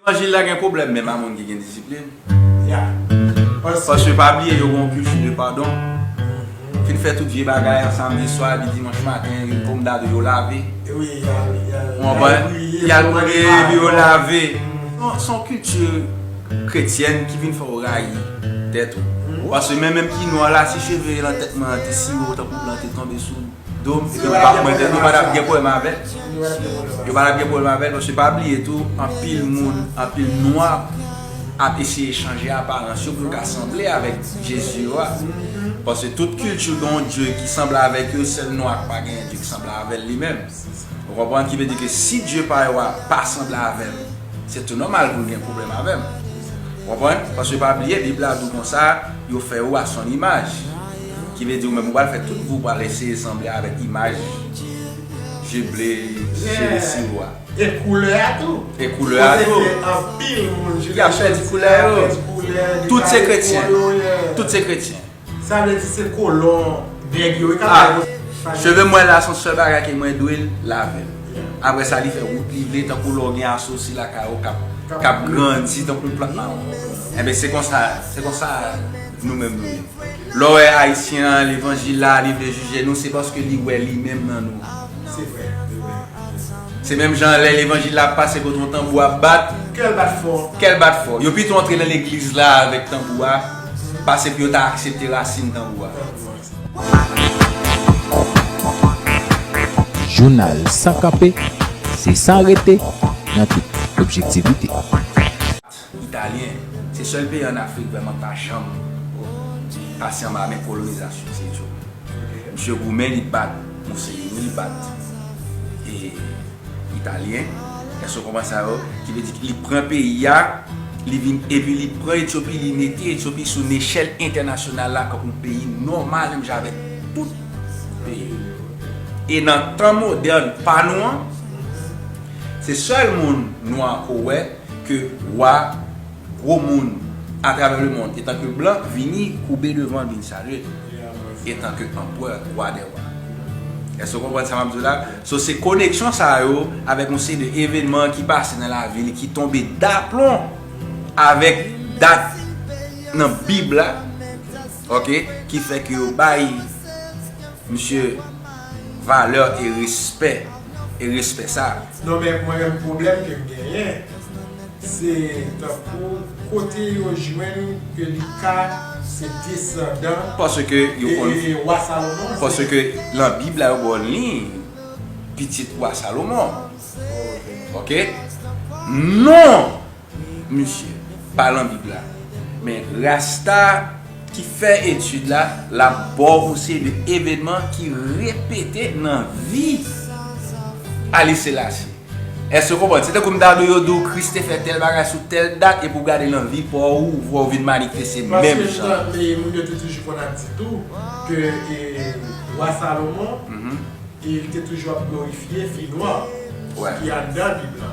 Levanjil la gen pwoblèm menm a moun ki gen disiplin. Paske pa bliye yo gen yon kilti de padon. Fin fè tout vye bagay an samdi swa epi dimanch maten yon pom dadou yo lave. Ou konprann? Yal briye epi yo lave. Se yon kilti kretyèn ki vin fè ou rayi tèt ou. Paske menm menm ki nwa la si cheve lan tèt mwen an te siwo tankou blan te tonbe sou. Do yo pa pran tèt yo pa tap gen pwoblèm avèl yo pa tap gen pwoblèm avèl paske pa bliye tou anpil moun anpil nwa ap eseye chanje aparans yo pou yo ka sanble avèk Jezi yo a paske tout kilti gen yon Dye ki sanble avèk yo sèl nwa ki pa gen yon Dye ki sanble avèl li menm ou konprann ki vle di ke si Dye pa yo a pa sanble avèm se tou nòmal pou l gen pwoblèm avèm ou konprann paske pa bliye bib la di w konsa yo fè ou a son imaj. Ki vle di ou menm ou pral fè tout pou ou pral eseye sanble avèk imaj je ble je lesi ou a. E koulè a tou. E koulè a tou. Kote gen anpil moun je ble je lesi a. Ki ap pèdi koulè yo. Ki ap pèdi koulè yo. Tout se kretyen. Tout se kretyen. Sa vle di se kolon nèg yo. A. Cheve mwen la son sèl bagay ke mwen dwe lave. Apre sa li fè wout li vle tankou lè ou gen asosi lakay ou kap grandi tankou plant mawon. Enben se konsa se konsa. Nou menm nou ye. Lè w wè Ayisyen an levanjil la li vle jije nou se paske li wè li menm nan nou. Se vre, se vre, se vre. Se menm jan lè levanjil la ap pase kote yon tanbou ap bat. Kè l bat fò. Kè l bat fò. Yo pito antre nan legliz la avèk tanbou a pase pou yo ta aksepte rasin tanbou a. Jounal san kanpe, se san rete, nan tout objektivite. Italyen se sèl peyi an Afrik vrèman pa janm pase anba men kolonizasyon se djo. Misye goumen li bat Mussolini li bat Italyen èske ou konprann sa yo ki vle di li pran peyi a li vin epi li pran Etyopi li mete Etyopi sou nechèl entènasyonal la kòm yon peyi nòmal menm jan avèk tout peyi yo. E nan tan modèn pa nou an se sèl moun nwa ke w wè. Ke wa, gwo moun, atravè lemond, etanke blan, vini koube devan l vin salye l, etanke anpwè, wa dè wa. Èske w konprann sa m ap di w la? So se koneksyon sa yo avèk yon seri de evenman ki pase nan lavi li ki tonbe daplon avèk dat nan Bib la, Ok ki fè ke yo bay misye valeur e respè e respè sa. Non men mwen menm pwoblèm kem genyen se tankou kote yo jwenn ke li ka se desandan Paske yo konn e wa Salomon se Paske lan bib la yo baw liy pitit wa Salomon Ok non Pou misye pa lan bib la. Men rasta ki fè etid la lap baw ou se de evenman ki repete nan vi Haile Selassie eske ou konprann se tankou m ta di w yo di w Kris te fè tèl bagay sou tèl dat epi w gade nan vi pa w ou wè w vin manifeste menm jan. Paske jan e moun yo te toujou konn ap di tou ke e Wa Salomon e li te toujou ap glorifye fi nwa ki anndan bib la.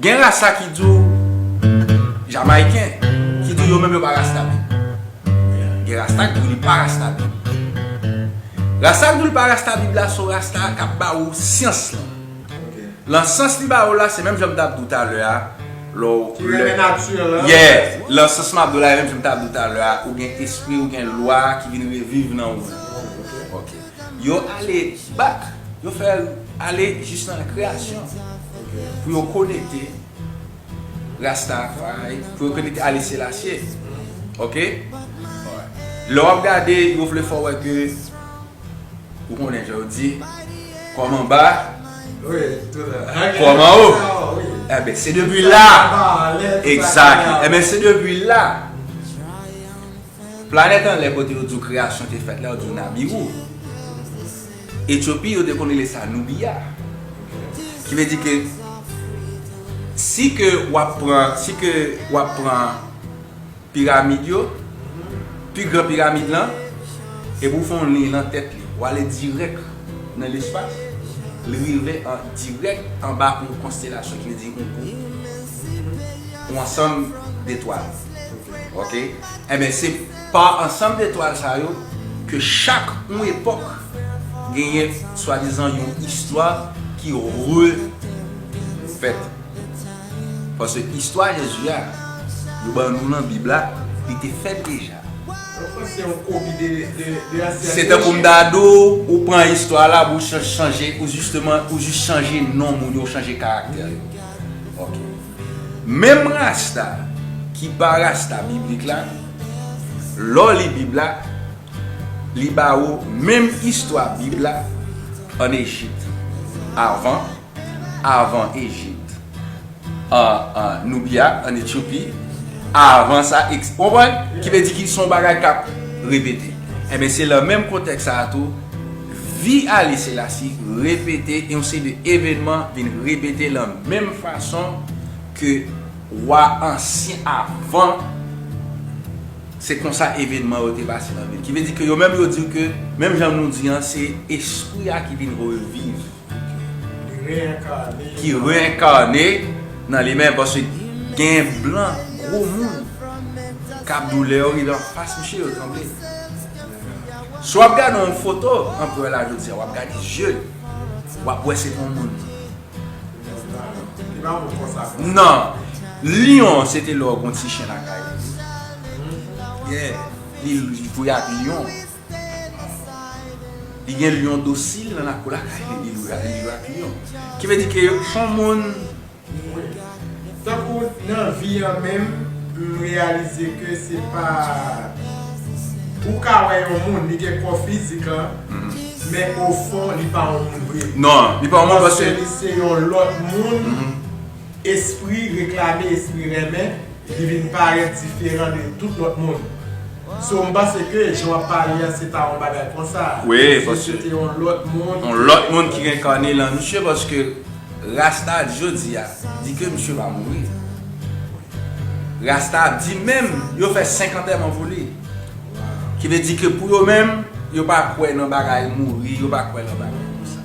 Gen rasa ki di w Jamayiken ki di yo menm yo pa rasta menm. Gen rasta ki di w li pa rasta menm. Rasta ki di w li pa rasta bib la se yon rasta k ap ba ou syans lan. Lan sans li ba ou la se menm jan m t ap di w talè a lè w. Ki renmen nati an. Yeah! Lan sans m ap di w la e menm jan m t ap di w talè a ou gen espri ou gen lwa ki vin reviv nan ou menm. Ok. Yo ale back, yo fè ale jis nan kreyasyon pou yo konekte Rastafari, pou yo konekte Haile Selassie. Ok? Lè wap gade, yo vle fè w wè ke ou konnen jan yo di, kòm anba, kòm anwo. Eben, se depi la, exactly, eben se depi la. Planèt anlè kote yo di w kreyasyon te fèt la yo di w Nabiwou. Etyopi yo te konn rele sa Noubiya. Ki vle di ke si ke w ap pran, si ke w ap pran piramid yo, pi gran piramid lan, epi w fè yon liy lan tèt li, w ale dirèk nan lespas, li rive an dirèk anba yon konstelasyon ki vle di yon gwoup, yon ansanm detwal. Ok Enben se pa ansanm de twal sa yo ke chak yon epòk genyen swadizan yon istwa ki refèt. Paske istwa Jezi a yo ban nou nan Bib la, li te fèt deja. Ou panse se yon kopi de ansyen Jezi? Se tankou m ta di w, ou pran istwa la pou w chanje, ou jis chanje non moun yo, ou chanje karaktè yo. Ok. Menm rasta ki pa rasta biblik la, lè w li Bib la, li ba ou menm istwa Bib la ann Ejip avan, avan Ejip an Nubya, ann Etyopi, avan sa, eks. Ou konprann? Ki vle di ki son bagay k ap repete. Enben, se lan menm kontèks sa a tou. Vi Haile Selassie repete e yon seri de evenman vin repete lan menm fason ke wa ansyen avan se konsa evenman yo te pase lan vil. Ki vle di ke yo menm yo di ke menm jan nou di an se espri a ki vin reviv. Li reenkarne. Ki reenkarne nan li menm paske gen blan gwo moun kap doulè yo rive anfas misye yo tranble. Si wap gade yon foto anperè la jodia wap gade jel wap wè se yon moun. Nan, Lion se te lò yon ti chen lakay li. Li jwe ak Lion. Li gen Lion dosil nan lakou lakay li, li jwe ak Lion. Ki vle di ke son moun. Mwen. Tankou nan vi an menm m reyalize ke se pa ou ka wè yon moun li gen kò fizik lan men o fon li pa yon moun vre paske li se yon lòt moun espri reklame espri renmen li vin parèt diferan de tout lòt moun so m panse ke jan w ap pale a se ta yon bagay konsa se te yon lòt moun ki renkane lan misye paske. Rasta jodi a di ke misye va mouri. Rasta di menm yo fè 5 antèman pou li. Ki vle di ke pou yo menm, yo pa kwè nan bagay mouri, yo pa kwè nan bagay konsa.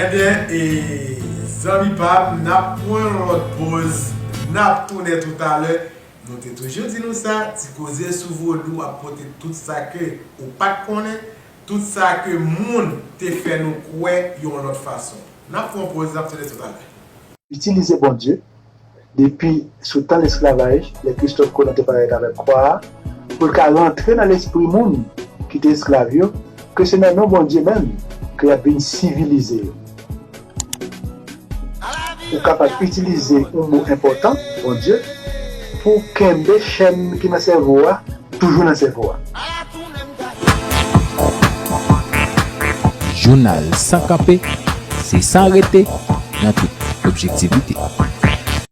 Ebyen e zanmi pam nap pwan yon lòt poz nap tounen tou talè nou te toujou di nou sa ti koze sou vodou ap pote tout sa ke ou pat konnen. Tout sa ke moun te fè nou kwè yon lòt fason. N ap fè yon poz, n ap tounen toutalè. Itilize Bondye, depi sou tan lesklavaj, lè Kristòf Kolon te parèt avèk kwa a, pou l ka rantre nan lespri moun ki te esklav yo, ke se nan non Bondye menm ke y ap vin sivilize yo. Ou kapab itilize yon mo enpòtan, Bondye, pou w kenbe chèn ki nan sèvo a toujou nan sèvo a. Jounal san kanpe, se san rete nan tout objektivite.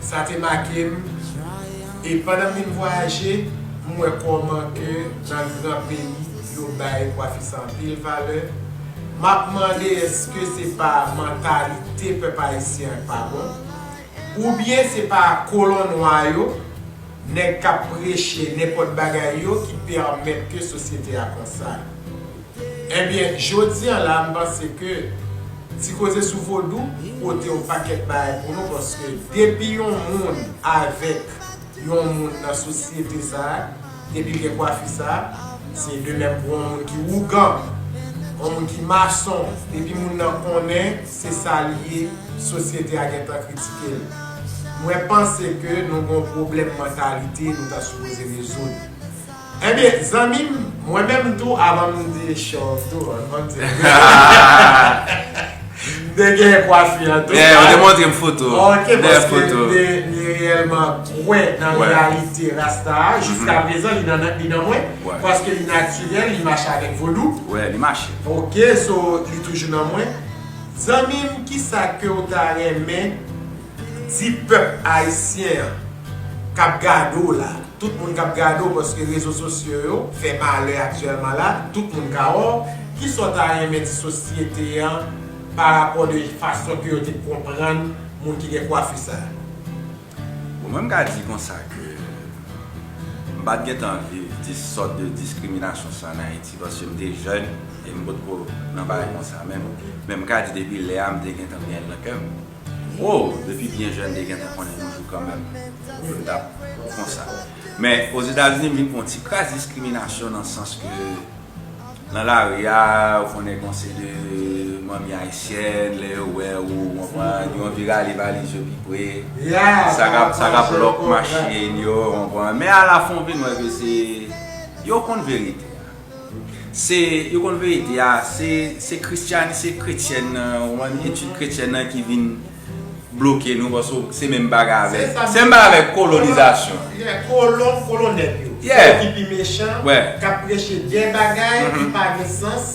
Sa te make m e pandan m vin vwayaje m wè kòman ke nan gran peyi yo bay kwafis anpil valè. M ap mande eske se pa mantalite pèp ayisyen an k pa bon? Oubyen se pa kolon nwa yo, nèg k ap preche nenpòt bagay yo ki pèmèt ke sosyete a konsa? Ebyen jodi an la m panse ke ti koze sou vodou pote yon pakèt bagay pou nou paske depi yon moun avèk yon moun nan sosyete sa depi l gen kwafi sa se de menm pou yon moun ki wougan yon moun ki mason depi moun nan konnen se sa li ye sosyete a gentan kritike l mwen panse ke nou gen yon pwoblèm mantalite nou ta sipoze rezoud. Ebyen zanmim mwen menm tou avan m di chòv tou an banm di l m te gen kwafi an tou. Ou te montre m foto. Ok paske m te reyèlman kwè nan reyalite rasta a jiska prezan li nan mwen paske li natirèl li mache avèk vodou. Wè li mache. Ok so li toujou nan mwen. Zanmim kisa ke ou ta renmen. Di pèp ayisyen an kap gade w la, tout moun kap gade w paske rezo sosyo yo fè malè aktyèlman la, tout moun ka wè w, kisa w ta renmen di sosyete an pa rapò de fason ke yo te konprann moun ki gen kwafi sa a? Bon mwen m ka di konsa ke m pat gen tan viv di sòt de diskriminasyon sa an Ayiti paske m te jèn e m potko nan bagay konsa menm, men m ka di depi lè a m te gen tan gen l nan kè m. Woww depi byen jèn te gentan konnen yon jou kanmenm yo tap konsa men ozetazini vin gen yon ti kras diskriminasyon nan sans ke nan lari a ou konnen gen yon seri de manmi ayisyèn lè yo wè ou ou konprann yo anvi rale valiz yo pi pre sa kap lòk machin yo ou konprann men alafin ou vin wè ke se yo konn verite a. Se yo konn verite a se se kristiani se kretyèn nan ou konprann etid kretyèn nan ki vin bloke nou paske w se menm bagay avèk se menm bagay avèk kolonizasyon yè kolon kolon nèg yo yè se yo ki pi mechan wè kap preche de bagay ki pa gen sans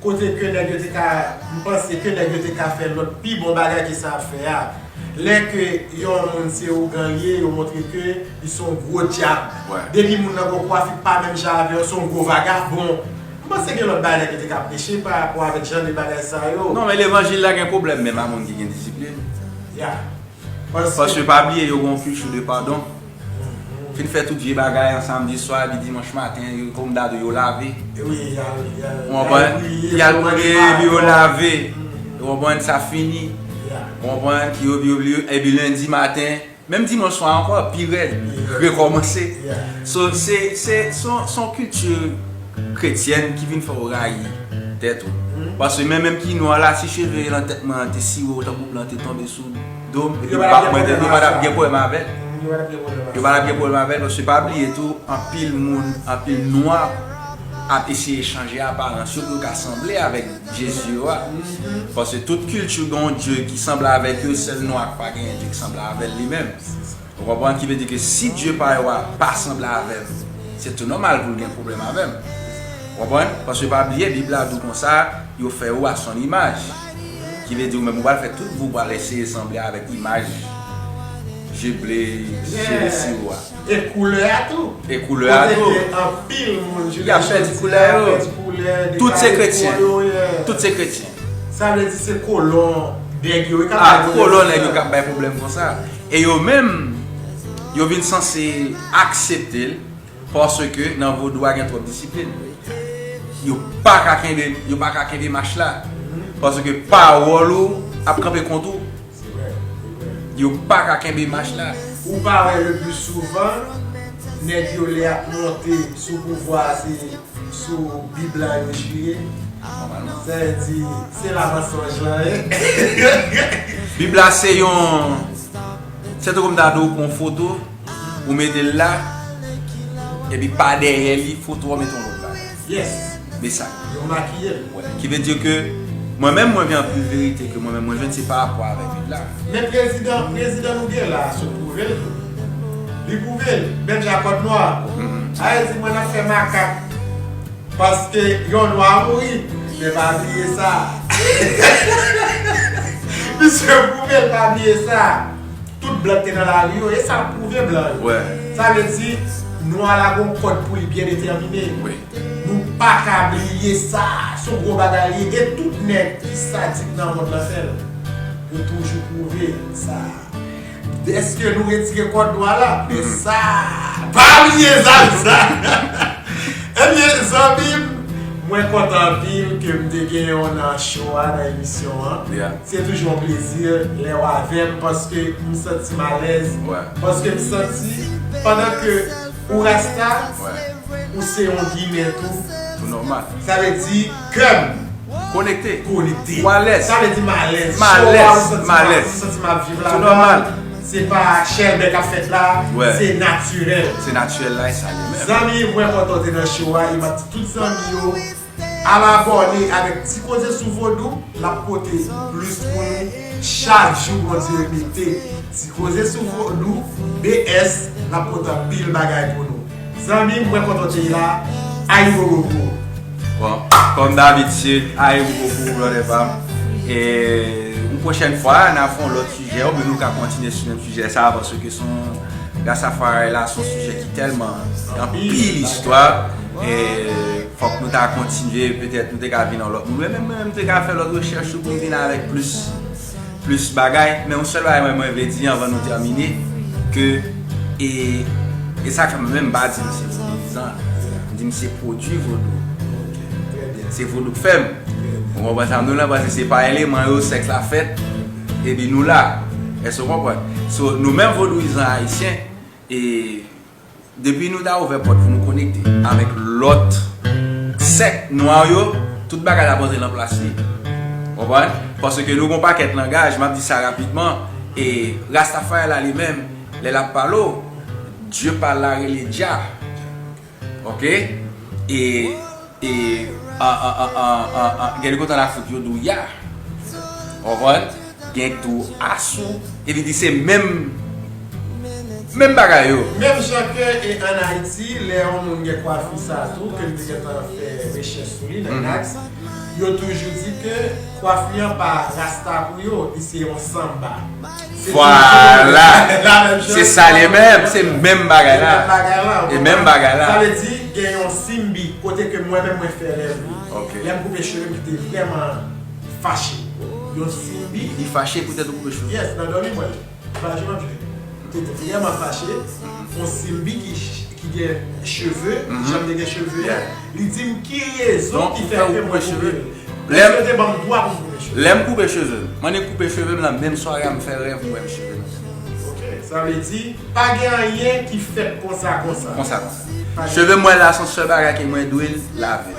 kote ke nèg yo te ka m panse ke nèg yo te ka fè lòt pi bon bagay ke sa yap fè a lè ke yon moun se ougan l ye yo montre ke. Li se yon gwo dyab. Depi moun nan gon kwafi pa menm jan avè w, se yon gwo vagabon. M panse gen lòt bagay ki te ka preche pa rapò avèk jan de bagay sa yo. Non men levanjil la gen pwoblèm menm a moun ki gen disiplin. Ya. Paske pa bliye yo gen yon kilti de padon. Fin fè tout vye bagay an samdi swa epi dimanch maten yo kòm dadou yo lave. Wi, y al priye. Ou konprann? Y al priye epi yo lave. Ou konprann? Sa fini. Ou konprann? Epi lendi maten Menm dimanch swa ankò pi rèd rekòmanse So se se son kilti kretyèn ki vin fè w rayi tèt ou Paske men menm ki nwa la si cheve nan tèt mwen an te siwe w tankou blan te tonbe sou do m epi bak mwen te yo pa tap gen pwoblèm avè l Yo pa tap gen pwoblèm avè l paske pa bliye tou anpil moun anpil nwa ap eseye chanje aparans yo pou yo ka sanble avèk Jezi yo a. Paske tout kilti gen yon Dye ki sanble avèk yo, sèl nwa ki pa genyen Dye ki sanble avè l li menm. Ou konprann? Ki vle di ke si Dye pa yo a pa sanble avè m, se tou nòmal pou l gen pwoblèm avè m. Ou konprann? Paske pa bliye Bib la di w konsa, yo fè ou a son imaj. Ki vle di ou menm ou pral fè tout pou w pral eseye sanble avèk imaj je ble, je lesi ou a. E koulè a tou. E koulè a tou. Kote ke anpil moun jounen jodi a. Yap pèdi koulè yo. Yap pèdi koulè. Tout se kretyen. Dekare po yo. Tout se kretyen. Sa vle di se kolon nèg yo. A kolon nèg yo kap bay pwoblèm konsa. E yo menm yo vin sanse aksepte l. Paske nan vodou a gen twòp disiplin. Yo pa ka kenbe mach la. Paske pawòl ou ap kanpe kont ou. Se vre, se vre. Yo paka kenbe mach la. Ou pa wè le plus souvent nèg yo lè yap monte sou pouvwa a se sou bi blan yo chire. Sa vle di se la mansonj lan ye. Bib la se yon Se tankou m ta di w pran yon foto ou mete l la epi pa dèyè li foto a ou mete yon lòt bagay. Yes! Me sa. Yo makiye l. Wè. Ki vle di ke mwen menm mwen gen anpil verite ke mwen menm mwen jwenn se pa rapò avèk bib la. Men prezidan prezidan nou gen la sot pwouve l tou. Li pwouve l. Menm jan kòd nwa a. Ayiti mwen ap fè makak paske yon nwa mouri men pa bliye sa. Misye pwouve l pa bliye sa. Tout blan ki te nan lari yo, e sa ap pwouve blan yo. Sa vle di, nwa la gon kòd pou li byen detèmine. Nou pa ka bliye sa, se yon gwo bagay li ye. E tout nèg ki sadik nan mond lan fè l. Yo toujou pwouve sa. Dèske nou retire kòd nwa la, men sa, pa bliye sa nou sa. Ebyen, zanmi m, mwen kontan anpil ke m te gen w nan show a, nan emisyon an. Se toujou yon plezi lèw avèm paske m santim alèz paske m santi pandan ke ou rasta ou se yon ginen tou Tout nòmal Sa vle di kèm konekte Ou alèz Sa vle di m alèz M alèz M alèz M santi map viv ladann Tout nòmal Se pa chèlbè kap fèt la Se natirèl Se natirèl la e sa ye menm Zanmi mwen kontan w te nan show a e map di tout zanmi yo Al abòne avèk ti koze sou vodou lap pote plis pou nou chak jou bondye mete ti koze sou vodou BS lap pote anpil bagay pou nou zanmim mwen kontan w te la ayibobobo. Bon kòm dabitid ayibobobo brother pam e yon pwochèn fwa nap fè yon lòt sijè ou byen nou ka kontinye sou menm sijè sa paske son Rastafari la son sijè ki tèlman anpil istwa e. Fòk nou ta kontinye, petèt nou te ka vin yon lòt moun. Mwen menm m te ka fè lòt rechèch tou pou m vin avèk plis, plis bagay. Men yon sèl bagay mwen mwen vle di anvan nou tèmine, ke e, e sa k fè mwen menm m pa di m se vodouyizan, m di m se pwodui vodou. Se vodou k fè m. Ou konprann sa m di w lan? Paske se pa eleman yo sèks la fèt, epi nou la. Èske w konprann? So, nou menm vodouyizan ayisyen, e. Depi nou ta ouvè pòt pou nou konekte avèk lòt sèk nwa yo, tout bagay la ap rantre nan plas li. Konprann? Paske nou gen yon pakèt langaj, m ap di sa rapidman, e Rastafari la li menm, lè l ap pale w, Dye pa l la rele Jah. Ok? E. E gen de kote la fout yo di w ya. Ou konprann? Gen ki di w asou. E li di se menm menm bagay yo. Menm jan ke e an Ayiti, lè yon moun gen kwafi sa a tou, ke m te gentan fè rechèch sou li nan yon aks, yo toujou di ke kwafi an pa rasta pou yo, li se yon sanba. Vwala! Se sa li menm! Se menm bagay la! E menm bagay la! Sa vle di gen yon simbi kote ke mwen menm mwen fè rèv li. Lè m koupe cheve m ki te vrèman fache. Yon simbi. Li fache poutèt ou koupe cheve l? Yes, nan dòmi mwen. Fache m ap jwe. Te vrèman fache. Yon simbi ki gen cheve, jan m te gen cheve. Li di m ki rezon ki fè ke mwen koupe l. Lèm Yo te banm 3 pou m koupe chevem. Lèm koupe chevem. M'en e koupe chevem lan menm sware a m fè rèv m wè m cheve nan tèt mwen. Ok sa vle di pa gen anyen ki fèt konsa konsa. Konsa konsa. Chevem mwen la son sèl bagay ke mwen dwe lave.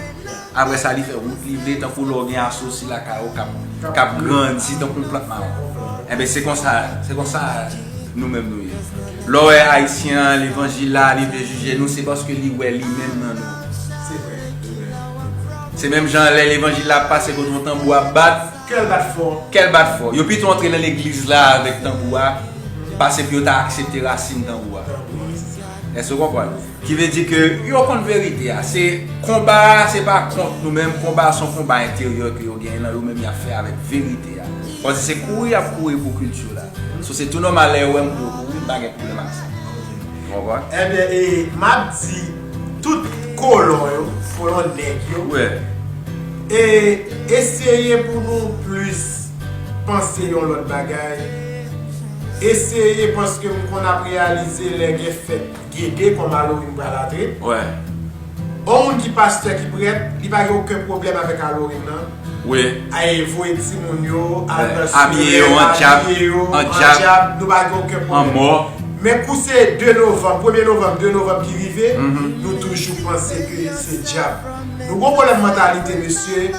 Aprè sa li fè wout li vle tankou lè w gen asosi lakay ou kap kap grandi tankou yon plant maron. Enben se konsa se konsa nou menm nou ye. Lè w wè ayisyen an levanjil la li vle jije nou se paske li wè li menm nan nou. Se menm jan lè levanjil la ap pase kote yon tanbou ap bat, kèl bat fò, kèl bat fò, yo pito antre nan legliz la avèk tanbou a pase pou yo ta aksepte rasin tanbou a. Èske ou konprann? Ki vle di ke yo konn verite a. Se konba a se pa kont nou menm, konba a se yon konba enteryè ke yo genyen nan yo menm y ap fè avèk verite a. Fò di se kouri y ap kouri pou kilti yo la. So se tou nòmal lè yo wè m pou yo kouri, m pa gen pwoblèm ak sa. Ou konprann? Enben e m ap di. Tout kolon yo folon nèg yo e eseye pou nou plis panse yon lòt bagay eseye paske m konn ap reyalize lè gen fèt gede kòm Alorim pral antre on moun ki pastè ki prèt li pa gen oken pwoblèm avèk Alorim nan. Wi. Ae voye timoun yo al nan sure, abiye yo an djab, an djab, nou pa gen oken pwoblèm. An mò. Men kou se 2 novanm, premye novanm, 2 novanm ki rive, nou toujou panse ke se djab. Nou gen yon pwoblèm mantalite mesye,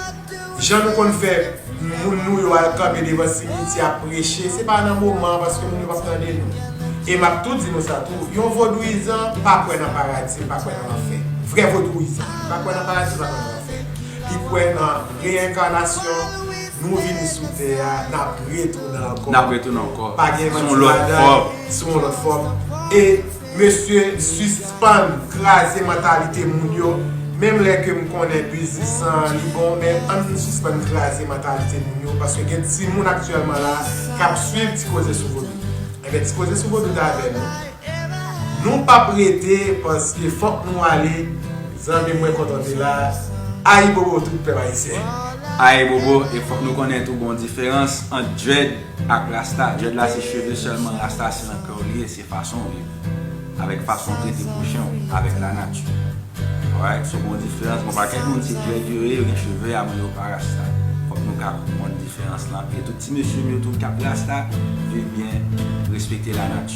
jan nou konn fè moun nou yo al kanpe devan simityè ap preche, se pa nan moman an paske moun yo p ap tande nou. E m ap tou di nou sa tou, yon vodouyizan pa kwè nan paradi, l pa kwè nan lanfè. Vrè vodouyizan. Li pa kwè nan paradi, li pa kwè nan lanfè. Sen, ki kwè nan reyenkanasyon, nou vini sou tè a, n ap retounen ankò. N ap retounen ankò. Pa gen manti ladan l, sou yon lòt fòm. E, mesye, sispann kraze mantalite moun yo, menm lè ke m konnen biznis lan an li bon, men ann sispann kraze mantalite moun yo, paske gen timoun aktyèlman la a k ap suiv Ti Koze sou Vodou. Enben, Ti Koze sou Vodou t avè nou. Nou pap rete paske fok nou ale zanmim mwen kontan te la ayibobo tout pèp ayisyen. Ayibobo e fok nou konnen tou gon diferans ant dread ak rasta dread la se cheve selman rasta se nan kèw li ye se fasonw viv avek fasonw trete pwochenw avek la nati alright so gon diferans bon pa kèk moun se dread yo ye yo gen cheve a men yo pa rasta fok nou ka konprann diferans lan e tout ti mesyem yo tou kap rasta viv byen respekte la nati.